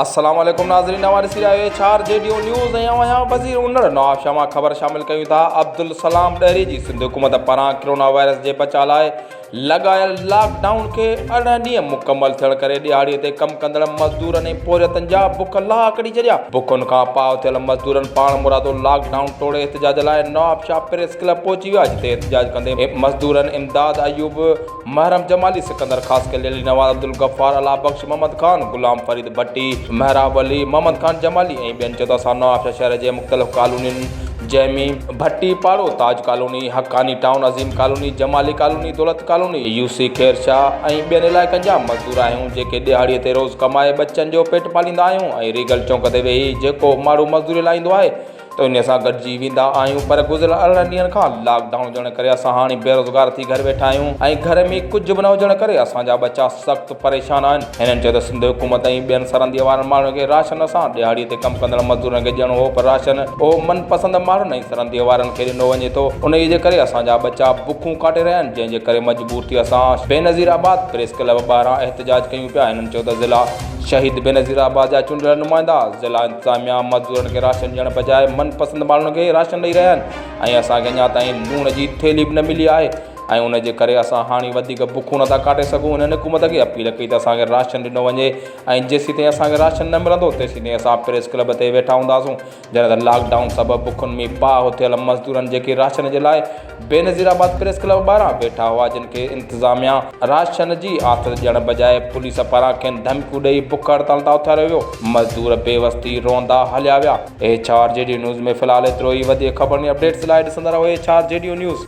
السلام عليڪم ناظرين اوهان ڏسي رهيا آهيو H R G D news ۽ آئون آهيان وزير انڙ نواب شاهه مان خبر شامل ڪيون ٿا عبدالسلام ڏهري جي سنڌ حڪومت پاران ڪرونا وائرس جي بچاء لاء لڳايل لاڪ ڊائون کي ارڙهن ڏينهن مڪمل ٿيڻ ڪري ڏهاڙي تي ڪم ڪندڙ مزدورن ۽ پورهيتن جا بک لاهه ڪڍي ڇڏيا بکن کان پاهه ٿيل مزدورن پاڻمرادو لاڪ ڊائون ٽوڙي احتجاج لاء نواب شاهه پريس ڪلب پهچي ويا جتي احتجاج ڪندي مزدورن امداد ايوب، محرم جمالي، سڪندر خاصخيلي، علي نواز، عبدالغفار، الله بخش، محمد خان، غلام فريد ڀٽي، محراب علي، محمد خان جمالي ۽ ٻين چوڌا سامنو آبشار شهر جي مختلف ڪالونين جنهن ۾ Bhatti Paro, Taj colony, Haqqani town, Azeem colony, Jamali colony, Daulat colony, U C Khair Shah ۽ ٻين علائقن جا مزدور آهيون جيڪي ڏهاڙي تي روز ڪمائي ٻچن جو پيٽ پاليندا آهيون ۽ ريگل چونڪ تي ويهي جيڪو ماڻهو مزدوري لاهيندو آهي توهين سان گڏجي ويندا آهيون پر گذريل ارڙهن ڏينهن کان لاڪ ڊائون هجڻ ڪري اسان هاڻي بيروزگار ٿي گهر ويٺا آهيون ۽ گهر ۾ ڪجهه به نه هجڻ ڪري اسان جا ٻچا سخت پريشان آهن هنن چيو ته سنڌ حڪومت ۽ ٻين سرنديء وارن ماڻهن کي راشن اسان ڏهاڙي تي ڪم ڪندڙ مزدورن کي ڏيڻو هو پر راشن اهو من پسند ماڻهن ۽ سرنديء وارن کي ڏنو وڃي ٿو انهيء جي ڪري اسان جا ٻچا بکون ڪاٽي رهيا آهن جنهن جي ڪري مجبور ٿي اسان بينظير آباد پريس ڪلب ٻاهران احتجاج ڪيون پيا هنن چيو ته ضلع شهيد بينظير آباد جا چونڊيل نمائندا ضلع انتظاميا مزدورن کي راشن ڏيڻ بجاء من پسند ماڻهن کي ئي راشن ڏئي رهيا آهن ۽ اسان کي اڃا تائين لوڻ جي ٿيلهي به نه ملي آهي ۽ ان جي ڪري اسان هاڻي وڌيڪ بکون نٿا ڪاٽي سگهون هنن حڪومت کي اپيل ڪئي ته اسان کي راشن ڏنو وڃي ۽ جيسين تائين اسان کي راشن نه ملندو تيسين تائين اسان پريس ڪلب تي ويٺا هونداسون جڏهن ته لاڪ ڊائون سبب بکن ۾ پاهه ٿيل مزدورن جيڪي راشن جي لاء بينظير آباد پريس ڪلب ٻاهران بيٺا هئا جن کي انتظاميا راشن جي آٿت ڏيڻ بجاء پوليس پاران کين ڌمڪيون ڏئي بک هڙتال تان اٿاريو ويو مزدور بي وس ٿي روئندا هليا ويا H R G D news ۾ في الحال ايترو ئي وڌيڪ خبرن ۽ اپڊيٽس لاء ڏسندا رهو H R G D news.